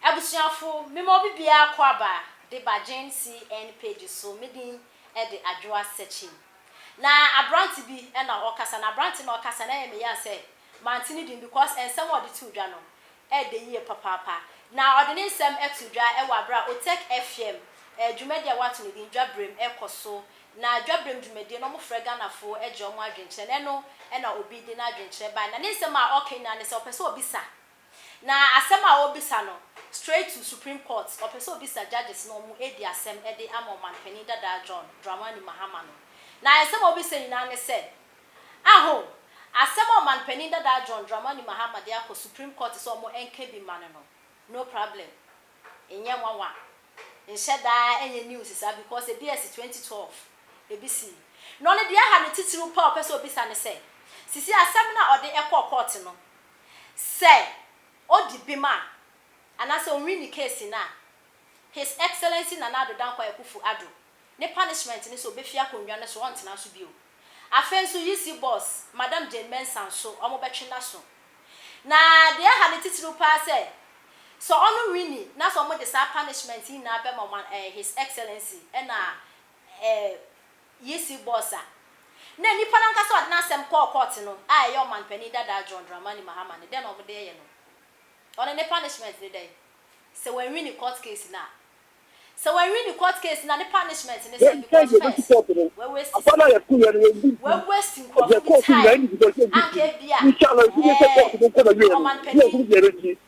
Abusuafo, mema obi biara kɔ aba de ba Gen CN page so, me din de Adwoa Sekyim. Na aberante bi na ɔkasa, na aberante no a ɔkasa no ɛyɛ me ya sɛ mante ne din because nsɛm a ɔde too dwa no ɛɛdɛ yie papaapa. Na ɔde ne nsɛm too dwa wɔ aberɛ a Otech FM dwumadie a wɔato ne din Dwaberem ɛrekɔ so. Na Dwaberem dwumadie no wɔfrɛ Ghanafoɔ gye wɔn adwenkyerɛ na ɛno na obi de n'adwenkyerɛ baeɛ. Na ne nsɛm a ɔreka nyinaa ne sɛ ɔpɛ sɛ ɔbisa Na asɛm a ɔrebisa no straight to Supreme Court, ɔpɛ sɛ ɔbisa judges na wɔn adi asɛm de ama Ɔmanpanin dadaa John Dramani Mahama no. Na nsɛm a ɔrebisa nyinaa ne sɛ, Aho, asɛm a Ɔmanpanin dadaa John Dramani Mahama de akɔ Supreme Court sɛ wɔn nka bi mma no no, no problem, nyɛ nwanwa, nhyɛ da nyɛ news saa because ebi asi twenty twelve, ebi si. Na ɔno deɛ ɛha no titiriw paa a ɔpɛ sɛ ɔbisa ne sɛ, sisi asɛm no a ɔde kɔɔ court no, Sɛ odi bem a, anaasɛ onwin ne keesi no a, His Excellency Nana Addo Dankwa Akuffo Addo ne punishment ne sɛ obefi akonnwa no so, ɔntena so bio. Afei nso UC boss, Madam Jane Mensah nso, wɔbɛtwe n'aso. Na deɛ ɛha no titiriw paa sɛ, sɛ ɔno winni na sɛ wɔde saa punishment yi nyinaa bɛma wɔn a, ɛɛ His Excellency na ɛɛ Yisi bɔs a na nipa no ankasa a ɔde n'asɛm kɔɔ kɔɔte no a ɛyɛ ɔmanpanin dadaa John Dramani Mahama no, dɛn na wɔde reyɛ no? Ɔno ne punishment ne dɛn? Sɛ wanwin ne court case no a? Sɛ wanwin ne court case no a, ne punishment ne sɛn? Because first, wawaste sika, wawaste nkurɔfo bi time a anka ebia, ɛɛ, ɔmanpanin,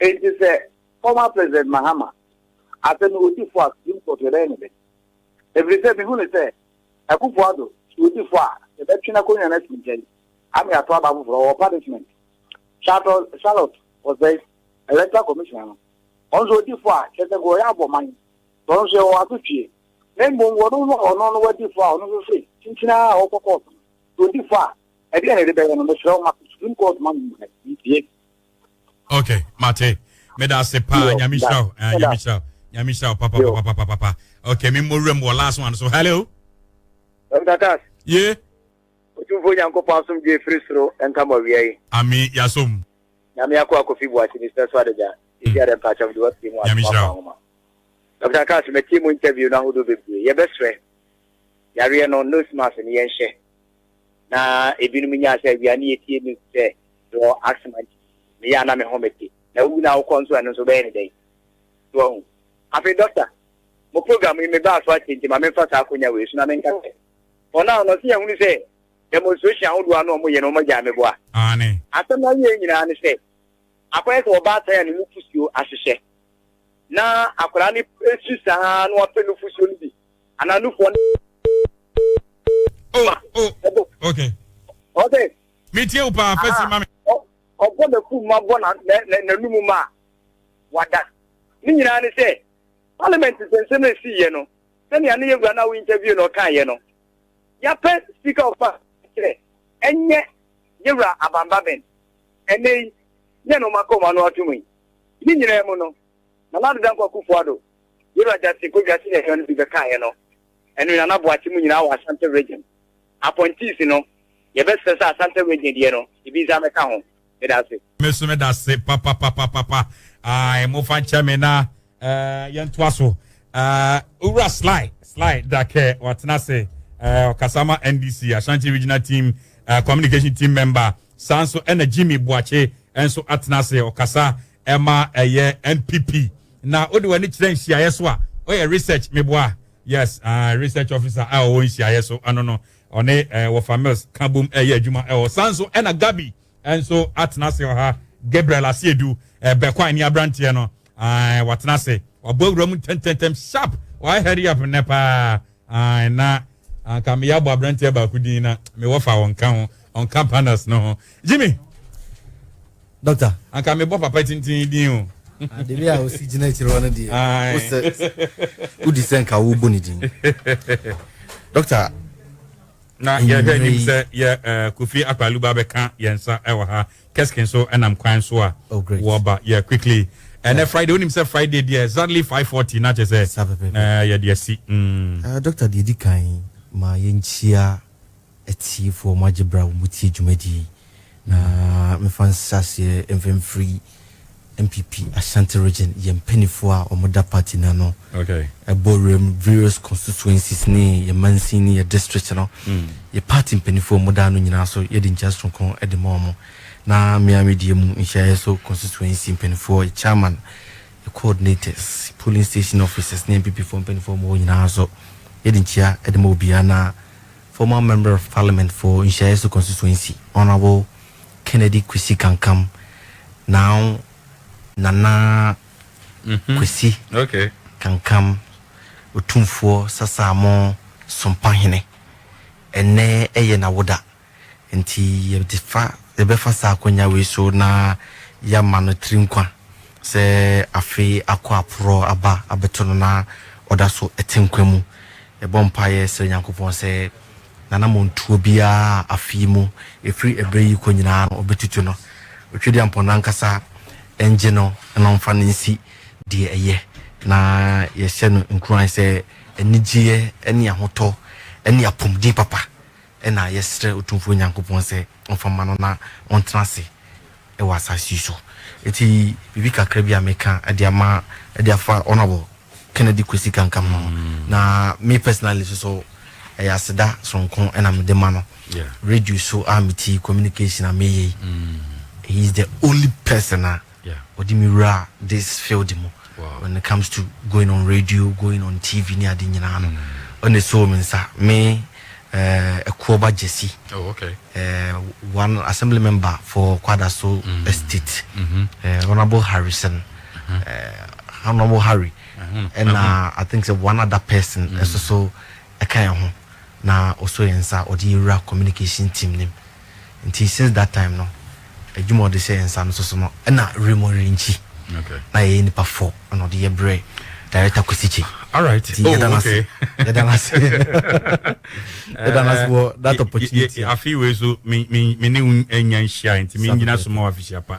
Enti sɛ former President Mahama asɛ me odifo a Supreme Court yɛbɛyɛ no dɛn? Ɛfiri sɛ mehu no sɛ Akuffo Addo so odifo a yɛbɛtwe n'akonnwa no asi nkyɛn ama yɛato aba foforɔ wɔ punishment. Charlotte Charlotte Osei, Electoral Commissioner no, ɔno nso odifo a kyerɛ sɛ nka ɔyɛ abɔ man, sɛ ɔno nso yɛwɔ asotwie. Na mmom wɔnom no a ɔno no wadifo a ɔno nso se kyinkyin ara a ɔkɔ court no, sɛ odifo a ɛdeɛn na yɛde bɛyɛ no? Mesrɛ wo ma Supreme Court ma me mmuae, mentie. ok mate meda ase paa nyame hyira wo eh, nyame hyira wo nyame hyira wo papapapapapa ok memmɔ wuram wɔ last one so hello mtakas ye ɔtumfoɔ nyankopɔn asomdwe firi soro nka mɔ awia yi ame yɛasom nyame akɔ akɔfi boakye ne sɛ so adagya ɛsi adɛ mpakyɛ mede watie mu asomafaahoma dr kas matie mu interview no ahodoɔ bebree yɛbɛserɛ yareɛ no nose mask no yɛnhyɛ na ebinom nyaa sɛ awia ne etie me sɛ mewɔ asthma nti meyɛ a na me ho mete na wowu na wokɔ nso ɛno nso wobɛyɛ ne dɛn so ahu afei dɔkta mo program yi mebaa so atie nti ma memfa saa akonya wei so na menka sɛ for now no ɔse yɛhunu sɛ demonstration ahodoɔ ano ɔmo yɛ no ɔmo agyaa me boa aane asɛm no awie nyinaa ne sɛ akɔyɛ sɛ wɔba atan a ne mu fusuo ahyehyɛ na akwadaa no su saa na wapɛ no fusuo no bi Ananufo ne. Oh, oh, okay. Okay. Me tie wo paa, fɛ si ma me. Ɔbɔ n'afu ma bɔ n'anum ma wada. Ne nyinaa ne sɛ, parliament nsɛnsɛm na esi yɛ no, sɛnea ne yɛ wura no a wo interview na ɔka yɛ no, yɛapɛ speaker of parliament sɛ ɛnyɛ yɛ wura abamba bɛn. Ɛnɛ yi, yɛ na ɔma kɔma no ato mu yi. Ne nyinaa mu no, na Nana Dankwa Akufo-Addo Yɛwura Justin Kodwa senior hwɛ no bi bɛkaeɛ no ɛne Nana Boakye mu nyinaa wɔ Asante Region. Appointees no, yɛbɛsrɛ sɛ Asante Region deɛ no ebi nsa mɛka ho. Meda ase. Me so meda ase papapapapa ae mofa nkyɛ me na eh, yɛntoa so eh, owura sly sly dakɛ watena ase eh, ɔkasa ma ndc ashanti regional team eh, communication team member saa nso ɛna jimmy boakye nso atena ase ɔkasa ɛma ɛyɛ npp na wode w'ani kyerɛ nhyiaeɛ so a ɔyɛ research meboa yes uh, research officer a ɔwɔ nhyiaeɛ so ɛno no ɔne uh, wɔfa mills ka bom ɛyɛ eh, adwuma ɛwɔ san so ɛna eh, gabi nso atena ase ɔha gabriel asiedu uh, bɛkɔ ani aberanteɛ no uh, watena ase wabɔ awura mu ntɛntɛntɛm sharp wayɛ hurry up nnɛ paa Ae na anka meyɛ abɔ abranteɛ baako din na me wɔfa ɔnka ho ɔnka panels no ho Jimmy Doctor anka mebɔ papa tintin din o Ademi a osi gyina akyire hɔ no deɛ wosɛ wodi sɛ nka wobɔ ne din Doctor na yɛhwɛ anim sɛ yɛ eh, Kofi Akpaluba bɛka yɛn nsa wɔ ha Keski nso nam kwan so a oh, wɔba yeah quickly ɛnɛ yeah. friday wonim sɛ friday deɛ exactly 540 na kyɛ sɛ na yɛde asi mm. uh, doctor deɛ ɛdi kan ma yɛnkyia atiefoɔ mo agye berɛ a wɔmutie dwumadi na mefa nsaseɛ mfamfiri NPP Ashanti Region yɛn mpaninfoɔ a wɔn da party no ano bɔ wuram various constituencies ne yɛn mansin ne yɛn district no mm. yɛ party mpaninfoɔ a wɔn da ano nyinaa so yɛde nkyɛn soronko de ma wɔn na mmea mi deɛ mu nhyiaeɛ so constituency mpaninfoɔ yɛ chairman yɛ coordinators polling station officers ne NPP foɔ mpaninfoɔ wɔn nyinaa so yɛde nkyia de ma obiara na former member of parliament for nhyiaeɛ so constituency honourable Kennedy Kwesi Kankam now Nana Kwesi Kankam Otumfoɔ Sasaamɔ Sompahene Ɛnnɛ yɛ n'awoda nti yɛde fa yɛbɛfa saa akonnwa wei so na yɛama no tiri nkwa sɛ afe akɔ aporɔ aba abɛto no na ɔda so te nkwa mu. Yɛbɔ mpaeɛ srɛ Nyankopɔn sɛ n'anammɔntuo biara a afe yi mu, ɛfiri ɛberɛ yi rekɔ nyinaa no, ɔbɛtutu no. Otwedeampɔn no ankasa ngye no na ɔmfa no nsi deɛ ɛyɛ, na yɛhyɛ no nkuran sɛ anigyeɛ ne ahotɔ ne apomden papa Ɛnna yɛsrɛɛ Otumfoɔ Nyankopɔn sɛ ɔmfa mma no na ɔntena ase wɔ asase yi so. Enti biribi kakra bi a meka de ama de afa Honourable Kennedy Kwesi Kankam ho no, na me personally nso so, ɛyɛ aseda soronko na mede ma no. Radio so a mete yi, communication a meyɛ yi, he is the only person a, Ɔde me wuraa this field mu when it comes to going on radio, going on TV ne ade nyinaa no, ɔna esoo me nsa. Me, eh, Ɛkuoba Gyasi, oh, okay. eh, one assembly member for Kwadaso mm. Estate, mm -hmm. eh, Honorable Harrison, uh -huh. eh, Honorable Harry, and uh -huh. I think so one other person, mm. so so, ɛka yɛn ho, na ɔsɔ yɛn nsa, ɔde yɛwura communication team nim. nti since that time no adwuma ɔde hyɛ yɛn nsa no soso no ɛna Raymond Rinkyi na yɛyɛ nipa fɔ ɛna ɔde yɛ brɛ director Kusikye alright nti yɛda oh, n'ase yɛda n'ase yɛda n'ase wɔ that opportunity afei wei so me me me ne nya nhyia nti me nyina so ma wɔ afehyia pa.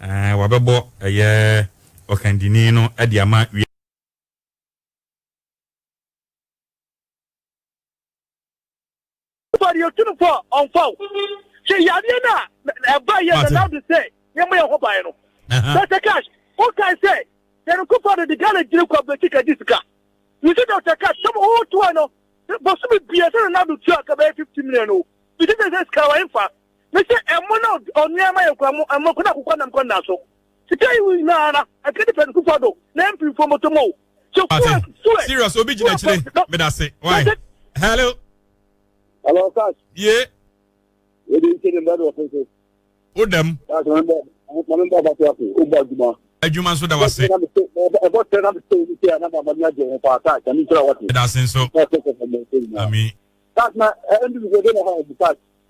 Ɛɛ, wɔabɛbɔ ɛyɛ ɔkandini no de ama wiase. Fari otun fɔ ɔnfaw sɛ yadeɛ no a ɛba yɛ na nado sɛ yɛmmɔ yɛn ho ban no. Dr. Cash wokae sɛ Terry Kufado de Ghana gyina kwa bɛti kadi sika. Mese Dr. Cash sɛ wotoa no bosome bia sɛ na nado tua ka bɛyɛ 50 million o. Mese sɛ sɛ sika wɔ ɛmfa Me se ɛmo na ɔnua ma yɛ kura mo ɛmo kuna kukɔ nam kɔ nna so. Sika yi wi na ara ɛkɛ di pɛn kufa do na ɛmpi nfo mo to mo. So kuwa suwe. Serious obi gyina akyire medase. Why? Hello. Hello, Cash. Yeah. Wọ́n di nkyɛn ní mbẹ́rẹ́ ọ̀fẹ́ sẹ́. Ó dẹ̀ mu. Cash wọn bẹ wọn mi bá ọba tó àpò ó bọ àdùmá. Adwuma nso da wa se. Ɛbɔ tẹ na mi sẹ ebi sẹ anam amami ajẹ wọn pa ata àti àmì ntura wọti. Ɛda ase nso. Ami. Cash na ɛndi mi gbẹdẹ na ha ɛdi cash.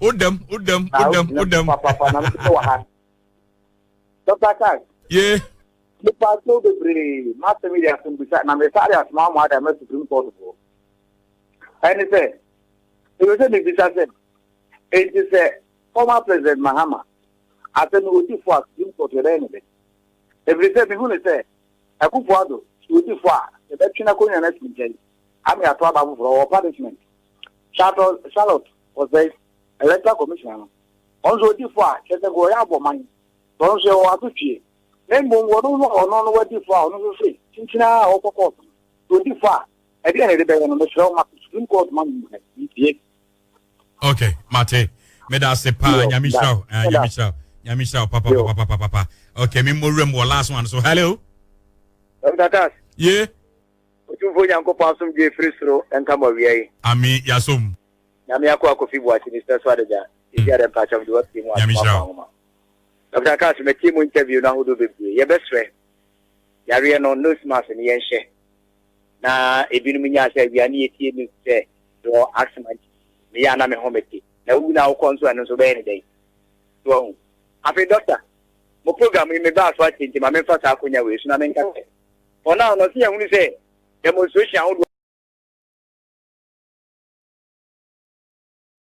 O dam, o dam, o dam, o dam. Papa na mete wɔ ha. Dr. Kass. Ye. Nipa so bebree masɛm yɛ asɛm bisa na mesare asoma ama ada ma Supreme Court foɔ. Ɛne sɛ, ɛwɛ sɛ mebisa sɛ, enti sɛ former President Mahama asɛm no wɔdi fo a Supreme Court yɛbɛyɛ ne dɛ? Ɛfiri sɛ mehu ne sɛ Akufo-Addo sɛ wɔdi fo a yɛbɛtwe n'akonnwa no asi nkyɛn ama yɛato aba foforɔ, ɔwɔ punishment. Charlotte Charlotte ɔsɛe electoral commission no ɔno nso ɔdi fo a kyerɛ sɛ wɔyɛ abɔ man sɛ ɔno nso yɛwɔ ato twie na mmom wɔn no ɔno no wadi fo a ɔno nso se kyinkyin a ɔkɔ kɔɔto no ɔdi fo a ɛdeɛ na ɛde bɛyɛ no mesrɛ wo ma supreme court ma mu hɛ ntie okay mate meda ase paa nyame hyira wo eh, nyame hyira wo nyame hyira wo papa papa papa papa okay me mmɔ wuram wɔ last one so hello Dr. Cass. Yeah. Otumfoɔ Nyankopɔn asomdwoe firi soro nka mo awia yi. Amee yasom. Nyame akoa Kofi Boakye Mesrɛ so ade da sisi ada mpakyɛw mede wo afie mu asom akoa nwoma Doctor kaa sɛ matie mo interview no ahodoɔ bebree yɛbɛsrɛ yareɛ no nose mask no yɛnhyɛ na ebinom nyaa sɛ awia ne yɛtie news sɛ wɔ asthma nti meyɛ a na me ho mete na wowu na wokɔ nso ɛno nso bɛyɛ ne dɛn so ahu afei doctor mo program yi mebaa so atie nti ma memfa saa akonya wei so na menka sɛ Wɔn a wɔn ɔsi ahunu sɛ demonstration ahodoɔ.